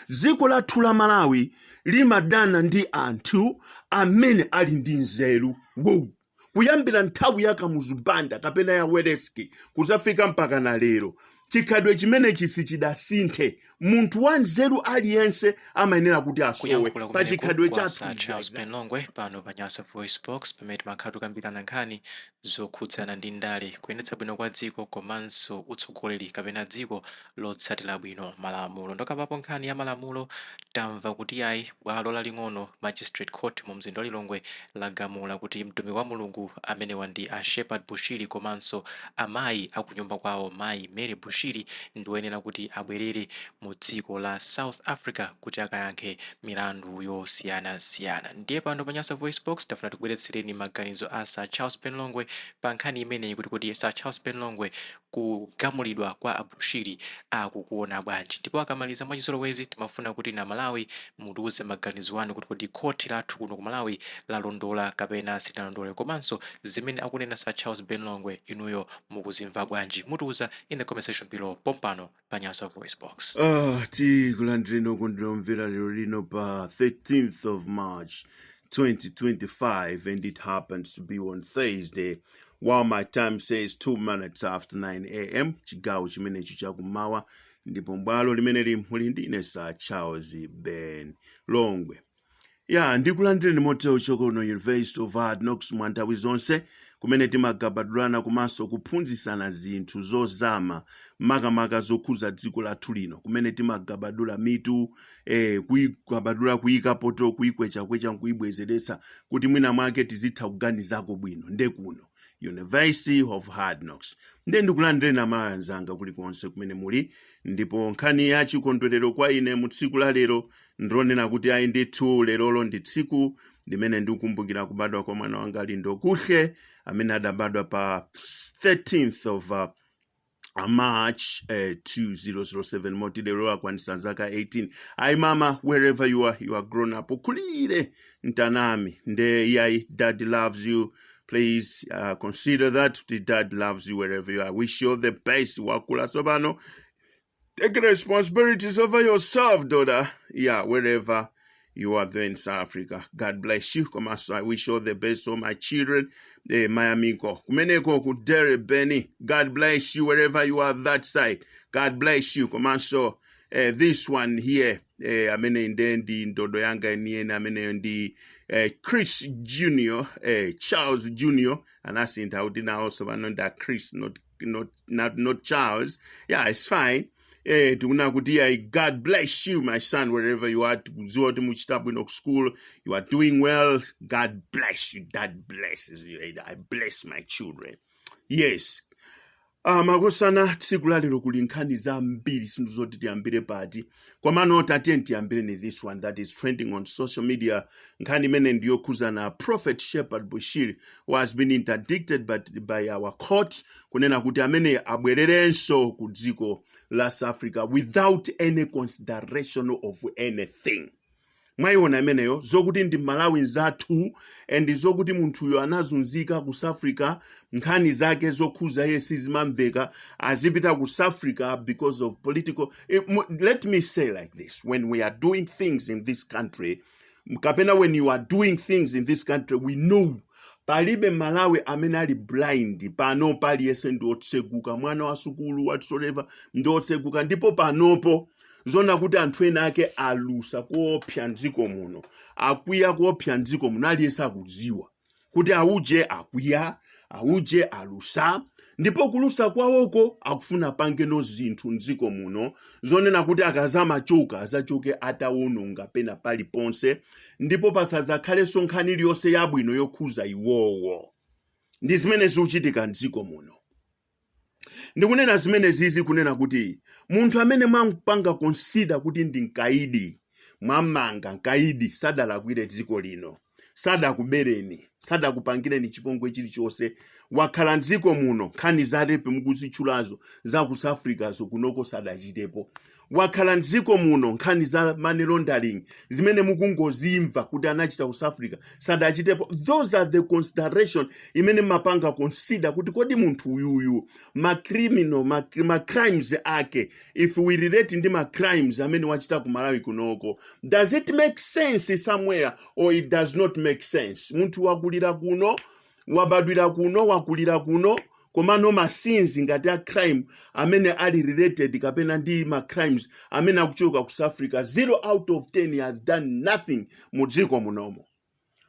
Dziko lathu la Malawi limadana ndi anthu amene ali ndi nzeru. Woo! Kuyambira nthawi ya Kamuzu Banda kapena ya Weleski kuzafika mpakana lero, chikhalidwe chimenechi sichidasinthe. Munthu wa nzeru aliyense amayenera kuti asowe pa chikhalidwe chathu. Sir Charles Ben Longwe pano pa Nyasa VoiceBox pamene timakhala tikukambirana nkhani zokhudzana ndi ndale, kuyendetsa bwino kwa dziko komanso utsogoleri kapena dziko lotsatira bwino malamulo. Ndikakambapo nkhani ya malamulo tamva kuti iyayi bwalo laling'ono, Magistrate Court, mu mzinda wa Lilongwe lagamula kuti mtumiki wa Mulungu amenewa ndi a Shepherd Bushiri komanso amayi akunyumba kwawo mayi Mary Bushiri ndi oyenera kuti abwerere mu dziko la South Africa kuti akayankhe milandu yosiyanasiyana. Ndiye pano pa Nyasa VoiceBox tafuna tikubweretsereni maganizo a Sir Charles Ben Longwe pa nkhani imeneyi kuti kodi Sir Charles Ben Longwe kugamulidwa kwa a Bushiri akukuona bwanji ndipo akamaliza mwachizolowezi timafuna kuti inu a Malawi mutiuze maganizo anu kuti kodi khoti lathu kuno ku Malawi lalondola kapena silinalondole komanso zimene akunena Sir Charles Ben Longwe inuyo mukuzimva bwanji? Mutiuza in the comment section below pompano. pa nyasa voice box Ah, tikulandireni okondera omvera lero lino pa 13th of march 2025 and it happens to be on thursday while my time says 2 minutes after 9 am chigawo chimenechi chakummawa ndipo mbwalo limeneli muli ndi ine sir charles ben longwe ya ndikulandireni motero choko kuno university of hard knocks mwa nthawi zonse kumene timagabadulana komanso kuphunzitsana zinthu zozama makamaka zokhudza dziko lathu lino kumene timagabadula mitu eh, kuigabadula kuika potero kuikwechakwecha nkuibwezeretsa kuti mwina mwake tizitha kuganizako bwino nde kuno university of hard knocks nde ndikulandireni amalawi anzanga kulikonse kumene muli ndipo nkhani ya chikondwerero kwa ine mu tsiku la lero ndi yonena kuti ayi ndithu lerolo ndi tsiku limene ndikukumbukira kubadwa kwa mwana wanga lindokuhle amene adabadwa pa 13th of uh, a March uh, 2007 moti lero akwanisa zaka 18 ayi mama wherever you are you are grown up ukhulire mtanami nde iyayi dad loves you please uh, consider that kuti dad loves you wherever you are wish you all the best wakula tsopano Take responsibilities over yourself, daughter. Yeah, wherever you are there in South Africa. God bless you. Come as I wish all the best to my children. Hey, eh, my amigo. Kumeneko kudere Benny. God bless you wherever you are that side. God bless you. Come as so uh, this one here eh, amene nde ndi ndodo yanga yeniyeni amene ndi eh, chris junior eh, charles junior anasintha kuti naonso pano ndi chris not not, not, not Charles. Yeah, it's fine. Eh, tikunena kuti iyayi, God bless you, my son, wherever you are. Tikudziwa kuti muchita bwino ku school. You are doing well. God bless you. Dad blesses you. And I bless my children. Yes. Ah, makosana tsiku la lero kuli nkhani zambiri sindidziwa kuti tiyambire pati komano tatiyeni tiyambire ndi this one that is trending on social media nkhani imene ndiyokhudzana prophet shepherd bushiri who has been interdicted by our court kunena kuti amene abwererenso ku dziko la south africa without any consideration of anything mwaiona imeneyo zokuti ndi mmalawi nzathu and zokuti munthuyo anazunzika ku south africa nkhani zake zokhuza iye sizimamveka azipita ku south africa because of political eh, mo- let me say like this when we are doing things in this country kapena when you are doing things in this country we know palibe mmalawi amene ali blind pano aliyense ndi otseguka mwana wa sukulu whatsoever ndi otseguka ndipo panopo zonena kuti anthu ena ake alusa koopsa mdziko muno akwiya koopsa mdziko muno aliyense akudziwa kuti auje akwiya auje alusa ndipo kulusa kwawoko akufuna apangeno zinthu mdziko muno zonena kuti akazamachoka azachoke atawononga pena paliponse ndipo pasadzakhalenso nkhani iliyonse yabwino yokhuza iwowo ndi zimene zikuchitika mdziko muno ndikunena zimenezizi kunena kuti munthu amene mwampanga consider kuti ndi mkaidi mwammanga mkaidi sadalakwire dziko lino sadakubereni sadakupangireni chipongwe chilichonse wakhala mdziko muno nkhani za rape mukuzitchulazo za ku south africazo kunoko sadachitepo wakhala mdziko muno nkhani za money laundering zimene mukungozimva kuti anachita ku south africa sadachitepo those are the consideration imene mumapanga consider kuti kodi munthu uyuyu ma criminal ma, ma crimes ake if we relate ndi ma crimes amene wachita ku malawi kunoko does it make sense somewhere or it does not make sense munthu wakulira kuno wabadwira kuno wakulira kuno komano ma scenes ngati a crime amene ali related kapena ndi ma crimes amene akuchoka ku south africa 0 out of 10 he has done nothing mu dziko munomo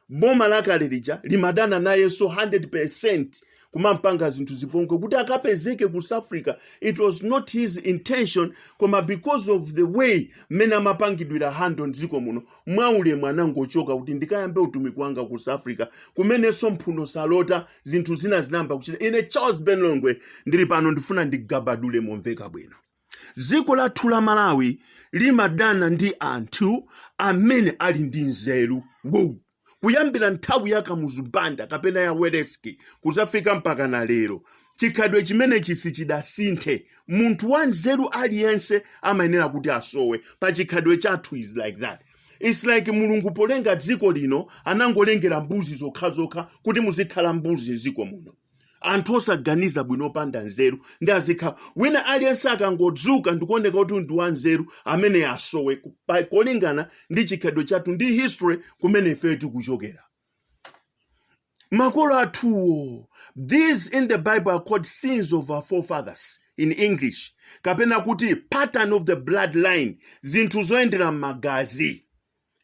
boma lakale lija limadana nayenso 100% kumampanga zinthu zipongwe kuti akapezeke ku south africa it was not his intention koma because of the way mmene amapangidwira handle mdziko muno mwaulemu anangochoka kuti ndikayambe utumiki wanga ku south africa komanso mphuno salota zinthu zina zinayamba kuchita ine charles ben longwe ndili pano ndifuna ndigabadule momveka bwino dziko lathu la malawi limadana ndi anthu amene ali ndi nzeru wow. kuyambira nthawi ya kamuzu banda kapena ya welensky kuzafika mpaka na lero chikhalidwe chimenechi sichidasinthe munthu wanzeru aliyense amayenera kuti asowe pa chikhalidwe chathu is like that it's like mulungu polenga dziko lino anangolengera mbuzi zokhazokha kuti muzikhala mbuzi mdziko muno anthu osaganiza bwino opanda nzeru ndi azikhala wina aliyense akangodzuka ndikuoneka kuti ndi wanzeru ameneyo asowe ku- pa- kolingana ndi chikhalidwe chathu ndi history kumene ifeyo tikuchokera makolo athuwo these in the bible are called sins of our forefathers in english kapena kuti pattern of the bloodline zinthu zoyendera m'magazi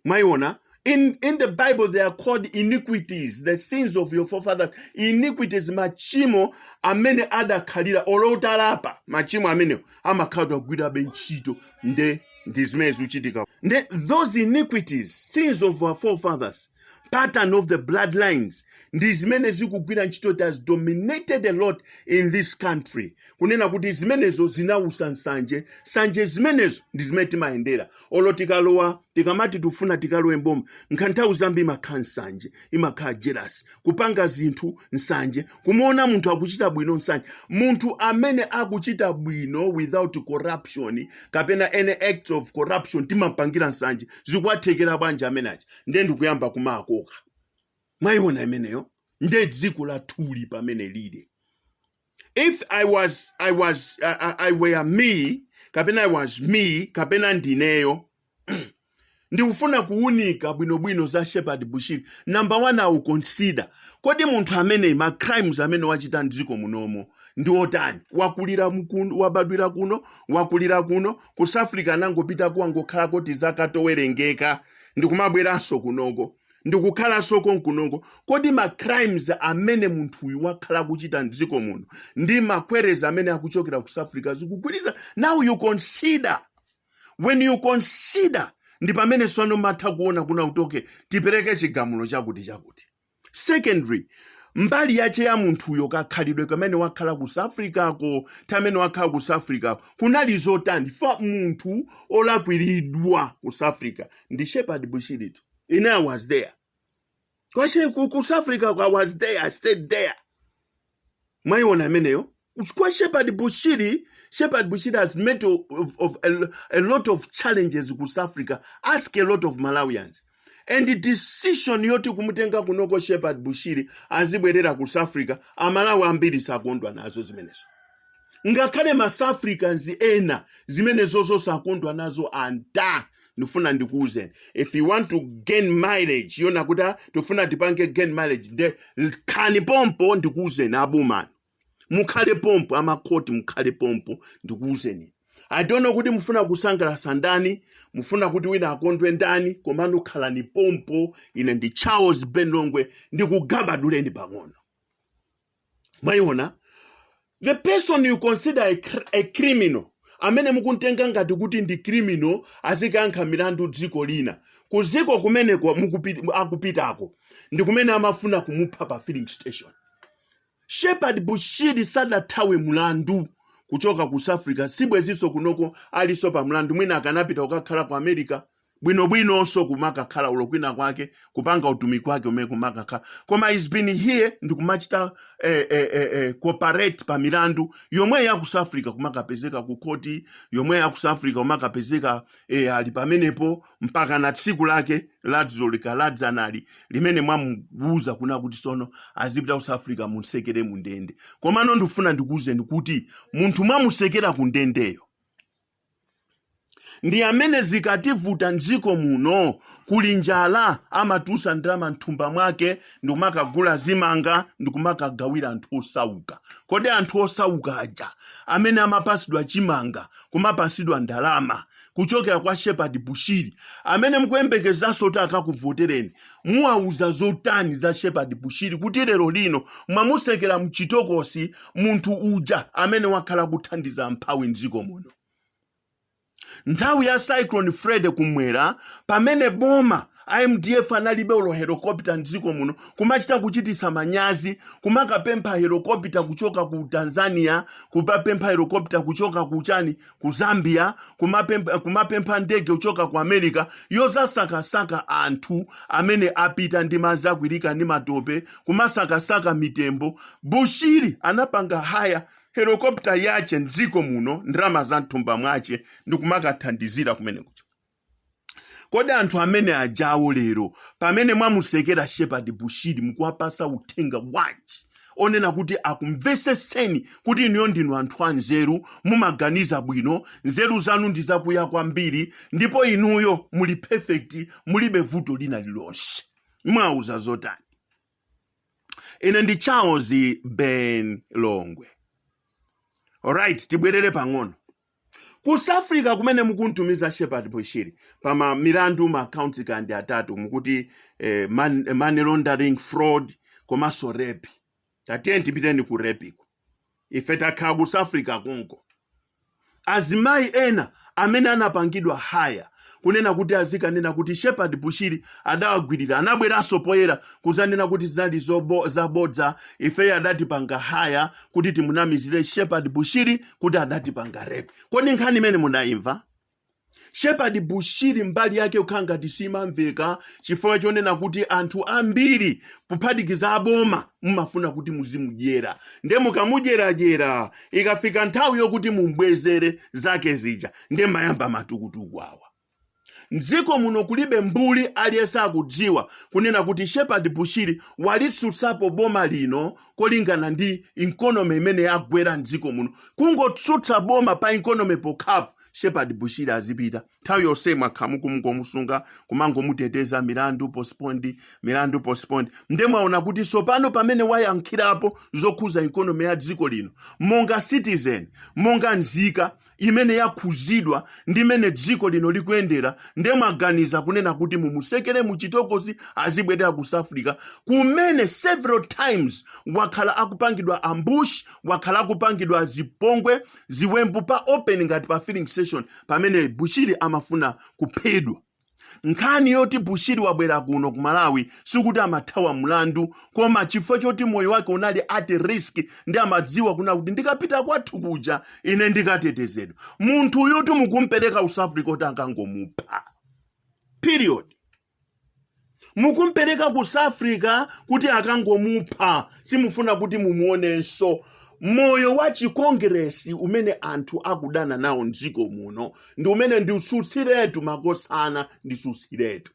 mwayiona in, in the bible they are called iniquities the sins of your forefathers iniquities machimo amene adakhalira olo utalapa machimo amenewo amakhala akugwirabe ntchito nde ndi zimene zikuchitika nde those iniquities sins of our forefathers pattern of the bloodlines ndi zimene zikugwira ntchito it has dominated a lot in this country kunena kuti zimenezo zinausa nsanje nsanje zimenezo ndi zimene timayendera olo tikalowa tikamati tufuna tikalowe m'boma nkha nthawi zambiri imakhala nsanje imakhala jealous kupanga zinthu nsanje kumuona munthu akuchita bwino nsanje munthu amene akuchita bwino without corruption kapena any acts of corruption timampangira nsanje zikuwathekera bwanji amene aja ndiye ndikuyamba kumawakoka mwayiona imeneyo nde dziko lathuli pamene lili if i was i was uh, i were me kapena i was me kapena ndineyo ndikufuna kuwunika bwinobwino za shepherd bushiri number 1 i will consider kodi munthu ameneyi ma crimes amene wachita mdziko munomo ndi otani wakulira mkuno wabadwira kuno wakulira kuno ku south africa anangopita kukangokhalako tizaka towerengeka ndikumabweranso kunoko ndikukhalanso konkunoko kodi ma crimes amene munthuyu wakhala akuchita mdziko muno ndi ma queries amene akuchokera ku south africa zikugwirizana now you consider when you consider ndi pamene tsopano matha kuona kunena kuti ok tipereke chigamulo chakuti chakuti secondly mbali yache ya munthuyo kakhalidwe kamene wakhala ku south africa ko nthawi amene wakhala ku south africa ko kunali zotani fa munthu olakwiridwa ku south africa ndi shepherd bushiritu ine i was there kwashe ku ku south africa i was there i stayed there mwayiona ameneyo kwa shepherd bushiri shepherd bushiri has met of, of, of a, lo- a lot of challenges ku south africa ask a lot of malawians and the decision yoti kumutenga kunoko shepherd bushiri azibwerera ku south africa amalawi ambiri sakondwa nazo zimenezo ngakhale ma south africans ena zimenezozo sakondwa nazo anda ndifuna ndikuwuzeni if you want to gain mileage yona kuti ah, tifuna tipange gain mileage nde khalani pompo ndikuwuzeni aboma mukhale pompo amakhoti mukhale pompo ndikuwuzeni i don't know kuti mufuna kusangalatsa ndani mufuna kuti wina akondwe ndani komano khalani pompo ine ndi charles ben longwe ndikugabaduleni pang'ono mwayiona the person you consider a, cr a criminal amene mukuntenga ngati kuti ndi criminal azikayankha milandu dziko lina kudziko kumene akupitako ndi kumene amafuna kumupha pa filling station Shepherd Bushiri sadathawe mlandu kuchoka ku South Africa sibwezinso kunoko aliso pa mlandu mwina akanapita kukakhala ku America bwinobwinonso kumakakhala ulo kwina kwake kupanga utumiki wake umene kumakakhala koma he's been here ndikumachita eh, eh, eh, eh, cooperate pa milandu yomwe ya ku south africa kumakapezeka ku khoti yomwe ya ku south africa kumakapezeka eh, ali pamenepo mpaka na tsiku lake ladzolika ladzanali limene mwamuwuza kunena kuti tsono azipita ku south africa mumtsekere mu ndende komano ndifuna ndikuwuzeni kuti munthu mwamutsekera ku ndendeyo ndi amene zikativuta m'dziko muno kuli njala amatulutsa ndalama m'thumba mwake ndikumakagula zimanga ndikumakagawira anthu osauka. Kodi anthu osauka aja amene amapatsidwa chimanga, kumapatsidwa ndalama kuchokera kwa Shepherd Bushiri amene mukuyembekezeranso kuti akakuvotereni, muwauza zotani za Shepherd Bushiri kuti lero lino mwamutsekera mchitokosi munthu uja amene wakhala kuthandiza amphawi mdziko muno nthawi ya cyclone fred kumwera pamene boma a mdf analibe ulo helicopter mdziko muno kumachita kuchititsa manyazi kumakapempha helicopter kuchoka ku tanzania kumapempha helicopter kuchoka kuchani ku zambia kumapempha, kumapempha ndege kuchoka ku america yozasakasaka anthu amene apita ndi madzi akwiririka ndi matope kumasakasaka mitembo bushiri anapanga haya helikopta yache mdziko muno ndalama za mthumba mwache ndikumakathandizira kumenekuja kodi anthu amene ajawo lero pamene mwamutsekera shepherd bushiri mukuwapatsa uthenga wanji onena kuti akumvetsetseni kuti inuyo ndinu anthu anzeru mumaganiza bwino nzeru zanu ndi zakuya kwambiri ndipo inuyo muli perfect mulibe vuto lina lilonse muwauza zotani ine ndi charles ben longwe alright tibwerere pang'ono Ku South Africa kumene mukuntumiza Shepherd Bushiri pa ma milandu ma counts kaya ndi atatu mukuti eh, man, eh, money laundering fraud komanso rape. Tatiyeni tipiteni ku rape ko. Ife takhala ku South Africa konko. Azimayi ena amene anapangidwa haya kunena kuti azikanena kuti Shepherd Bushiri adawagwirira anabweranso poyera kuzanena kuti zinali zobo- zabodza ifeyi adatipanga haya kuti timunamizire Shepherd Bushiri kuti adatipanga rape kodi nkhani imene munayimva Shepherd Bushiri mbali yake kukhala ngati simamveka chifukwa chonena kuti anthu ambiri kuphatikiza aboma mumafuna kuti muzimudyera nde mukamudyeradyera ikafika nthawi yokuti mumbwezere zake zija nde mwayamba matukutuku awa mdziko muno kulibe mbuli aliyense akudziwa kunena kuti shepherd bushiri walitsutsapo boma lino kolingana ndi economy imene yagwera mdziko muno kungotsutsa boma pa economy pokhapo shepherd bushiri azipita nthawi yonse mwakha mukungomusunga kumangomuteteza milandu postponed milandu postponed nde mwaona kuti tsopano pamene wayankhirapo zokhuza economy ya dziko lino monga citizen monga nzika imene yakhuzidwa ndi mene dziko lino likuyendera nde mwaganiza kunena kuti mumusekere muchitokosi azibwerera ku south africa kumene several times wakhala akupangidwa ambush wakhala akupangidwa zipongwe ziwembu pa open ngati pa filling station pamene bushiri amafuna kuphedwa nkhani yoti bushiri wabwera kuno ku malawi sikuti amathawa mlandu koma chifukwa choti moyo wake unali at risk ndi amadziwa kuna kuti ndikapita kwathu kuja ine ndikatetezedwa munthu uyutu mukumpereka ku south africa kuti akangomupha period mukumpereka ku south africa kuti akangomupha simufuna kuti mumuonenso moyo wa chikongeresi umene anthu akudana nawo mdziko muno ndi umene ndisusiretu makosana ndisusiretu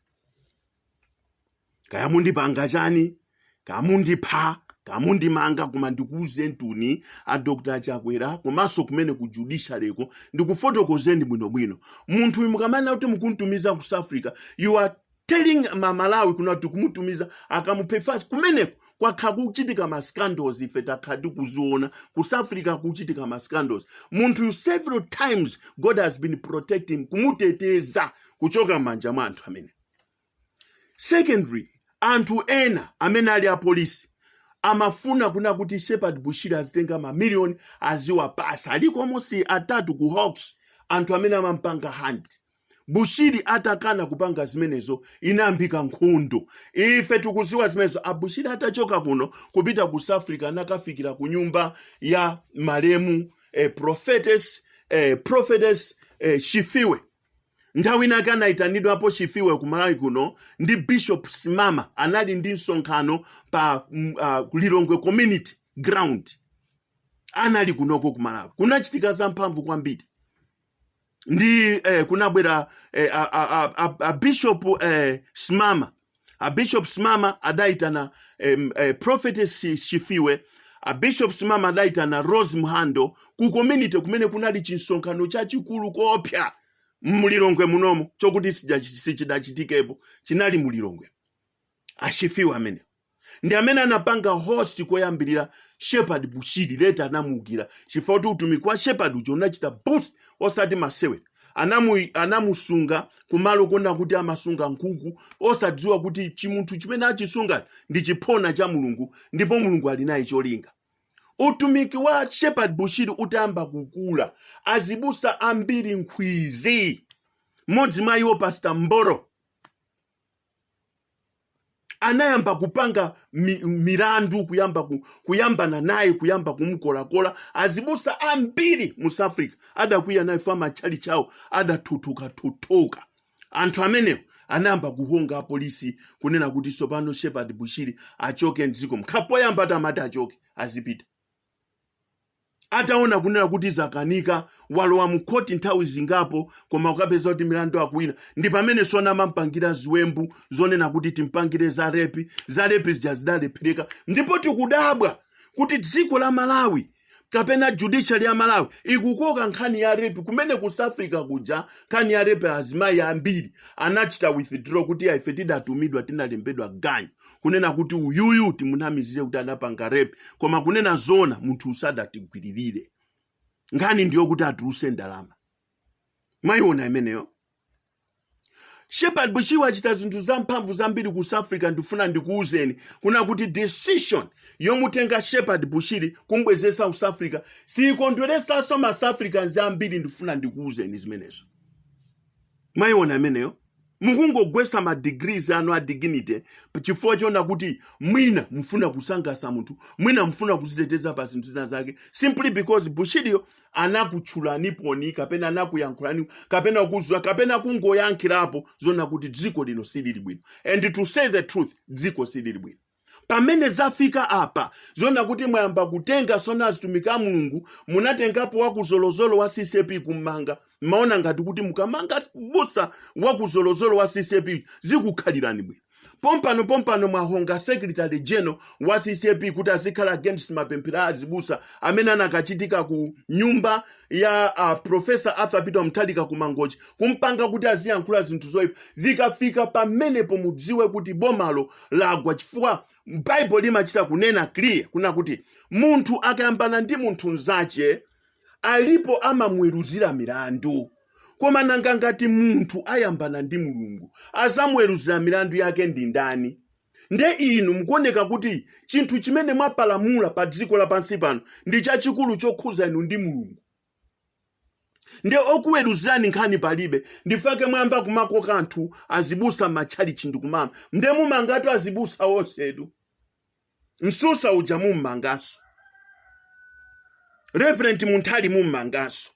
kaya mundipanga chani kaya mundipha kaya mundimanga koma ndikuuzeni inu a dr chakwera komanso kumene ku judiciaryko ndikufotokozeni bwinobwino munthu uyu mukamanena kuti mukumtumiza ku south africa you are telling mamalawi kuna kuti tikumutumiza akamuphe fast kumeneko kwakha kuchitika ma scandals ife takha tikuziona ku south africa kuchitika ma scandals munthu uyu several times god has been protecting kumuteteza kuchoka m'manja mwa anthu amene Secondly, anthu ena amene ali apolisi amafuna kuna kuti Shepherd Bushiri azitenga mamiliyoni aziwapasa. Aliko almost atatu ku Hawks anthu amene amampanga hunt. Bushiri atakana kupanga zimenezo inayambika nkhondo. Ife tikuziwa zimenezo. A Bushiri atachoka kuno kupita ku South Africa anakafikira ku nyumba ya malemu eh, prophetess eh, prophetess eh, Shifiwe. Nthawi inayake anaitanidwapo Shifiwe ku Malawi kuno ndi Bishop Simama, anali ndi msonkhano pa mm, ah, ku Lilongwe Community Ground, anali kunoko ku Malawi. Kunachitika zamphamvu kwambiri ndi eh, kunabwera eh, a, a, a, a, a Bishop eh, Simama a bishop simama adayitana em, eh, prophetess Shi- shifiwe a bishop simama adayitana rose muhando ku community kumene kunali chimsonkhano chachikulu koopsa mu lilongwe munomo chokuti sija- sichidachitikepo chinali mu lilongwe a shifiwe amene ndi amene anapanga host koyambirira shepherd bushiri later anamuukira chifukwa kuti utumiki wa shepherd uja unachita boost osati masewera anamu anamusunga kumalo kuona kuti amasunga nkhuku osadziwa kuti chimunthu chimene achisunga ndi chiphona cha mulungu ndipo mulungu ali naye cholinga utumiki wa shepherd bushiri utayamba kukula azibusa ambiri nkhwizi mmodzi mwa iwo pastor mboro anayamba kupanga mi, milandu kuyamba ku, kuyambana naye kuyamba kumukolakola azibusa ambiri mu south africa adakwiya naye chifukwa matchalitchi awo adathothokathothoka anthu amenewo anayamba kuhonga apolisi kunena kuti sopano shepherd bushiri achoke mdziko nkhani poyamba atamati achoke azipita ataona kunena kuti zakanika walowa mu khoti nthawi zingapo koma ukapeza kuti milandu akuwina ndi pamene tsono anampangira ziwembu zonena kuti timpangire za rape za rape zija zidalephereka ndipo tikudabwa kuti dziko la malawi kapena judiciary ya malawi ikukoka nkhani ya rape kumene ku south africa kuja nkhani ya rape azimayi ambiri anachita withdraw kuti aife tidatumidwa tinalembedwa ganyu kunena kuti uyuyu timunamizire kuti adapanga rape koma kunena zona munthuyu sadatigwiririre nkhani ndiyo kuti atuluse ndalama mwayiona imeneyo shepherd bushiri wachita zinthu zamphamvu zambiri ku south africa ndifuna ndikuwuzeni kunena kuti decision yomutenga shepherd bushiri kumbwezeretsa ku south africa siyikondweresanso ma south africans ambiri ndifuna ndikuwuzeni zimenezo mwayiona imeneyo mukungogwesa ma degrees anu a dignity p- chifukwa chonena kuti mwina mfuna kusangalatsa munthu mwina mfuna kuziteteza pa zinthu zina zake simply because bushiriyo anakutchulaniponi kapena anakuyankhulani kapena kukudzudzulani kapena kungoyankhirapo zonena kuti dziko lino silili bwino and to say the truth dziko silili bwino pamene zafika apa zona kuti mwayamba kutenga soni azitumiki a mulungu munatengapo wakuzolozolo wa ccap kummanga mmaona ngati kuti mukamanga busa wakuzolozolo wa ccap zikukhalirani bwino pompano pompano mwahonga secretary general wa ccap kuti azikhala against mapemphero a azibusa amene anakachitika ku nyumba ya uh, professor arthur peter mutharika ku mangochi kumpanga kuti aziyankhula zinthu zoyipa zikafika pamenepo mudziwe kuti bomalo lagwa chifukwa baibulo limachita kunena clear kunena kuti munthu akayambana ndi munthu mzache alipo amamuweruzira milandu koma nanga ngati munthu ayambana ndi mulungu azamuweruzira milandu yake ndi ndani nde inu mukuoneka kuti chinthu chimene mwapalamula pa dziko lapansi pano ndi chachikulu chokhuza inu ndi mulungu nde okuweruzirani nkhani palibe ndi chifukwa chake mwayamba kumakoka anthu azibusa m'matchalichi ndikumammanga nde mumangatu azibusa onsetu msusa uja mummanganso reverend munthali mummanganso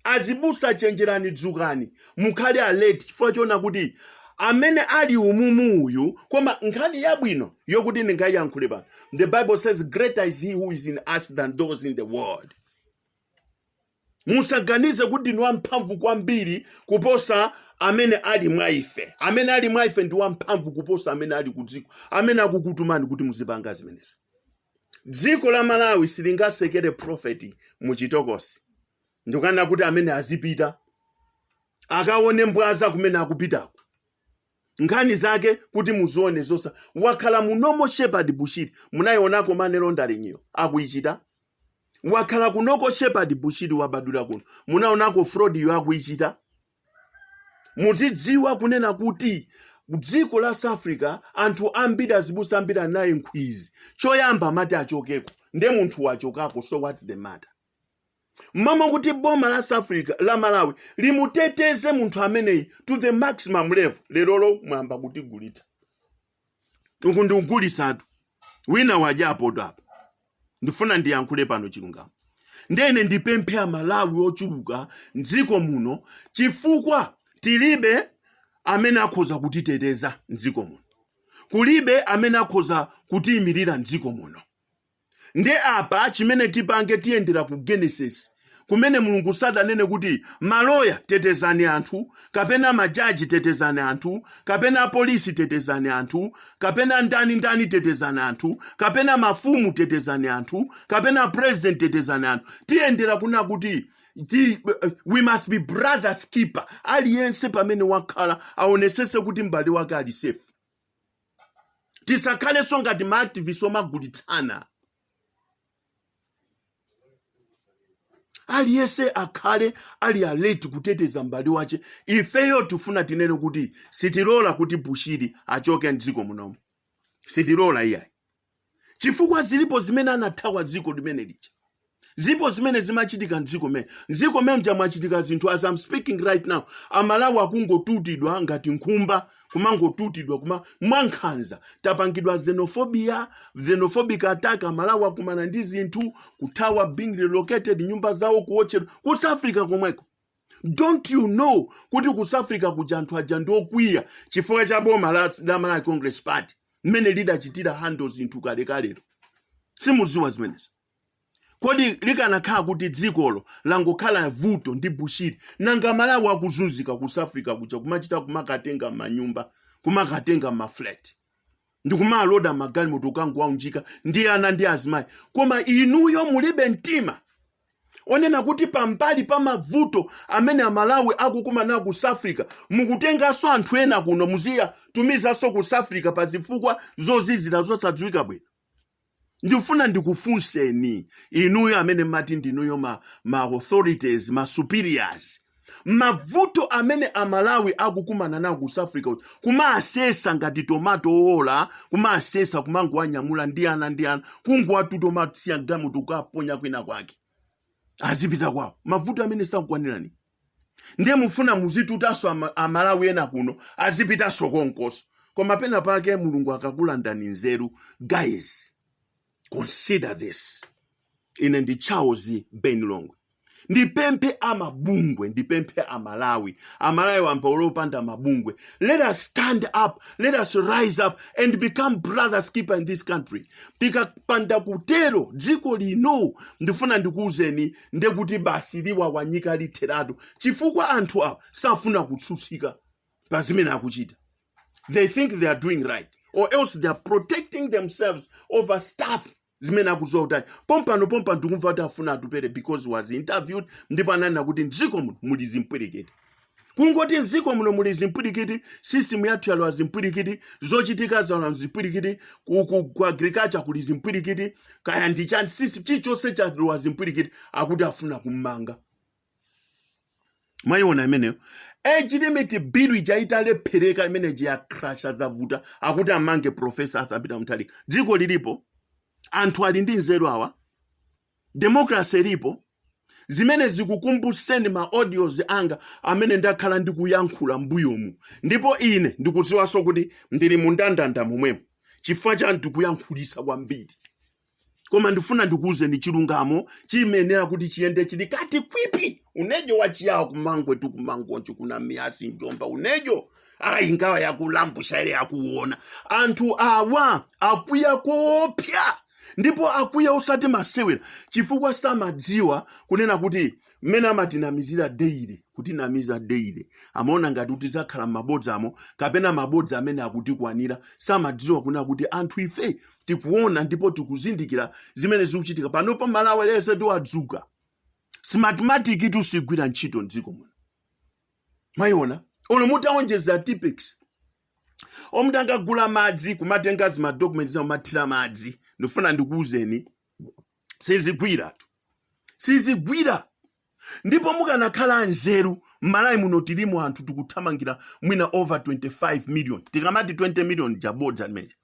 azibusa chenjerani dzukani mukhale alert chifukwa chona kuti amene ali umumu uyu koma nkhani yabwino yokuti ndingayankhule pano the bible says greater is he who is in us than those in the world musaganize kuti ndinu wamphamvu kwambiri kuposa amene ali mwa ife amene ali mwa ife ndi wamphamvu kuposa amene ali ku dziko amene akukutumani kuti muzipanga zimenezi dziko la malawi silingasekere profeti mu chitokosi ndikukanena kuti amene azipita akaone mbwaza kumene akupitako nkhani zake kuti muzione zoza wakhala munomo shepherd bushiri munayionako money laundering-yo akuichita wakhala kunoko shepherd bushiri wabadwira kuno munaonako fraud-yo akuichita muzidziwa kunena kuti dziko la south africa anthu ambiri azibusa ambiri anaye nkhwizi choyamba amati achokeko nde munthu wachokako so whats the matter m'malo mwakuti boma la south africa la malawi limuteteze munthu ameneyi to the maximum level lerolo mwayamba kutigulitsa uku ndi ugulisatu wina wadyapo tu apa ndifuna ndiyankhule pano chilungamo nde ine ndipemphe amalawi ochuluka mdziko muno chifukwa tilibe amene akhoza kutiteteza mdziko muno kulibe amene akhoza kutiyimirira mdziko muno Nde apa chimene tipange tiyendera ku Genesis kumene Mulungu sadanene kuti maloya tetezani anthu kapena majaji tetezani anthu kapena apolisi tetezani anthu kapena ndani ndani tetezani anthu kapena mafumu tetezani anthu kapena president tetezani anthu tiyendera kunena kuti ti- we must be brothers keeper aliyense pamene wakhala aonesese kuti mbale wake ali safe tisakhalenso ngati maactivist omagulitsana aliyense akhale ali alert kuteteza mbali wache ifeyo tifuna tinene kuti sitilola kuti bushiri achoke mdziko munomo sitilola iyayi chifukwa zilipo zimene anathawa dziko limene lija zilipo zimene zimachitika mdziko mene mdziko mene mja mwachitika zinthu as I'm speaking right now amalawi akungotutidwa ngati nkhumba kumangotutidwa kuma mwankhanza apangidwa xenophobia xenophobic attack amalawi akumana ndi zinthu kuthawa being relocated nyumba zawo kuotchedwa ku south africa komweko don't you know kuti ku south africa kuja anthu aja ndi okwiya chifukwa cha boma la, la malawi congress party mmene lidachitira handle zinthu kalekalero simuziwa zimenezi kodi likanakhala kuti dzikolo langokhala vuto ndi bushiri nanga malawi akuzunzikira ku south africa kuja kumachita kumakatenga mmanyumba kumakatenga mmaflat ndikumawaloda mmagalimoto kukangowaunjika ndi ana ndi azimayi koma inuyo mulibe mtima onena kuti pambali pa mavuto amene amalawi akukumana ku south africa mukutenganso anthu ena kuno muziwatumizanso ku south africa pa zifukwa zozizira zosadziwika bwino ndifuna ndikufunseni inuyo amene mmati ndinuyo ma, ma authorities ma superiors mavuto amene amalawi akukumana nawo ku south africa kumaasesa ngati tomato owola kumaasesa kumangowanyamula ndi ana ndi ana kungowatuta mosiyaga mutu kukaponya kwina kwake azipita kwawo mavuto amene sakukwanirani ndiye mufuna muzitutanso ama- amalawi ena kuno azipitanso konkonso koma pena pake mulungu akakulandani nzeru guys consider this ine ndi charles ben longwe ndipemphe amabungwe ndipemphe amalawi amalawi wamba olopanda mabungwe let us stand up let us rise up and become brothers keeper in this country tikapanda kutero dziko lino ndifuna ndikuwuzeni nde kuti basi liwawanyika litheratu chifukwa anthu awa safuna kutsutsika pa zimene akuchita they think they are doing right or else they are protecting themselves over stuff zimene akuziwa kuti ayi pompano pompano tikumva kuti afuna atupere because was interviewed ndipo ananena kuti mdziko muno muli zimpwirikiti kungoti mziko muno muli zimpwirikiti system yathu yalowa zimpwirikiti zochitika zalowa zimpwirikiti ku, ku, ku agriculture kuli zimpwirikiti kaya ndi chani system chilichonse chalowa zimpwirikiti akuti afuna kummanga mwayiona imeneyo age limit bill ija italephereka imene ija yakrasha zavuta akuti amange profesa arthur peter mutharika dziko lilipo anthu ali ndi nzeru awa democracy ilipo zimene zikukumbuseni ma audios anga amene ndakhala ndikuyankhula mbuyomu ndipo ine ndikudziwanso kuti ndili mu ndandanda momwemo chifukwa chani ndikuyankhulitsa kwambiri koma ndifuna ndikuwuzeni chilungamo chimenera kuti chiyende chili kati kwipi unejo wachiyawo kumangwe tikumangonji kuna miyasi mjomba unejo ayi ngawa yakulambusha ile yakuona anthu awa akwiya koopsa ndipo akwiya osati masewera chifukwa samadziwa kunena kuti mmene amatinamizira daily kutinamiza daily amaona ngati kuti tizakhala m'mabodzamo kapena mabodza amene akutikwanira samadziwa kunena kuti anthu ife tikuona ndipo tikuzindikira zimene zikuchitika panopa malawi lese tiwadzuka smartmatic sigwira ntchito mdziko muno mwayiona olo mutaonjeza tippex olo mutangogula madzi kumatenga zimadokumenti zina kumathira madzi ndifuna ndikuwuzeni sizigwira sizigwira ndipo mukanakhala anzeru m'malawi muno tilimo anthu tikuthamangira mwina over 25 million tikamati 20 million ija bodza limeneja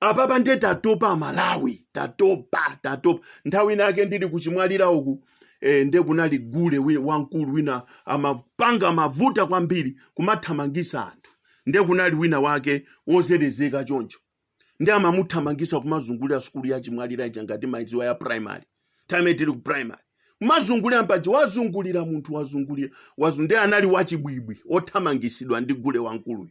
apapa ndiye tatopa amalawi tatopa tatopa nthawi ina yake ndili kuchimwalira uku eh, nde kunali gule wi- wamkulu wina amapanga amavuta kwambiri kumathamangisa anthu nde kunali wina wake wozerezeka choncho nde amamuthamangisa kumazungulira sukulu ya chimwalira ija ngati maidziwa ya primary time tili ku primary kumazungulira paja wazungulira munthu wazungulira wazu nde anali wachibwibwi othamangisidwa ndi gule wamkuluyo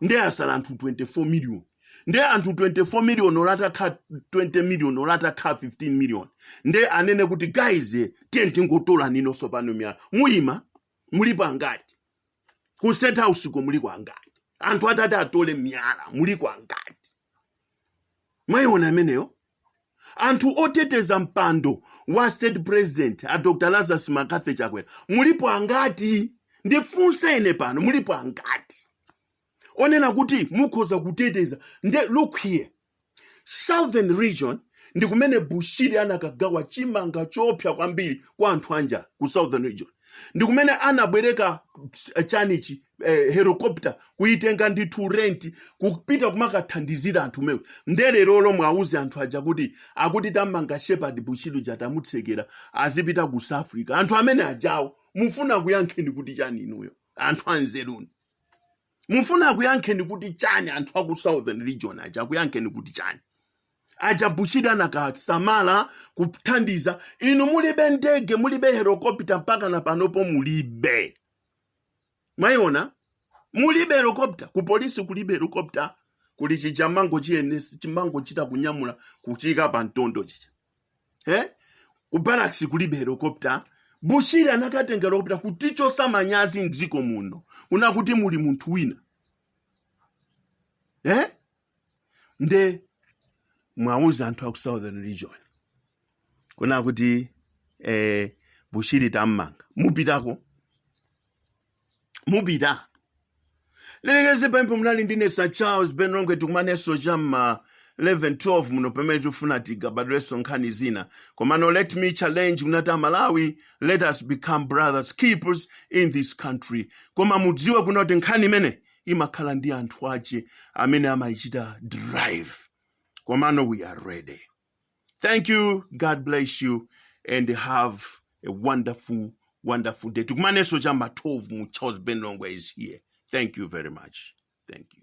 nde asala anthu 24 million nde anthu 24 million olo atakha 20 million olo atakha 15 million nde anene kuti guys eh, tiyeni tingotola ino sopano miyala muyima mulipo angati ku state house ko muliko angati anthu atati atole miyala muliko angati mwayiona ameneyo anthu oteteza mpando wa state president a dr lazarus mccarthy chakwera mulipo angati ndifunse ine pano mulipo angati onena kuti mukhoza kuteteza nde look here southern region ndi kumene bushiri anakagawa chimanga choopsa kwambiri kwa anthu anja ku southern region ndi kumene anabwereka eh, chanichi eh, helicopter kuitenga ndi to rent kupita kumakathandizira anthu mewe nde lerolo mwauze anthu aja kuti akuti tammanga shepherd bushiri uja tamutsekera azipita ku south africa anthu amene ajawo mufuna akuyankheni kuti chani inuyo anthu anzeru inu mufuna akuyankheni kuti chani anthu aku southern region aja akuyankheni kuti chani aja bushiri anakasamala kuthandiza inu mulibe ndege mulibe helicopter mpaka ndi panopo mulibe mwayiona mulibe helicopter ku polisi kulibe helicopter kuli chichamango chiyenesi chimango chita kunyamula kuchiika pa mtondo chicha eh ku barracks kulibe helicopter bushiri anakatenga helicopter kutichotsa manyazi mdziko muno kunena kuti muli munthu wina eh nde mwauza anthu a ku southern region kunena kuti eh, bushiri tammanga mupite mukaperekeze pamene munali ndine sir charles ben longwe tikumanenso cha mma 11 12 muno pamene tifuna tigubudulenso nkhani zina komano let me challenge kunena kuti amalawi let us become brothers keepers in this country koma mudziwe kunena kuti nkhani imene imakhala ndi anthu ache amene amaichita drive komano we are ready thank you god bless you and have a wonderful wonderful day tikumanenso cha ma 12 mu charles ben longwe is here thank you very much thank you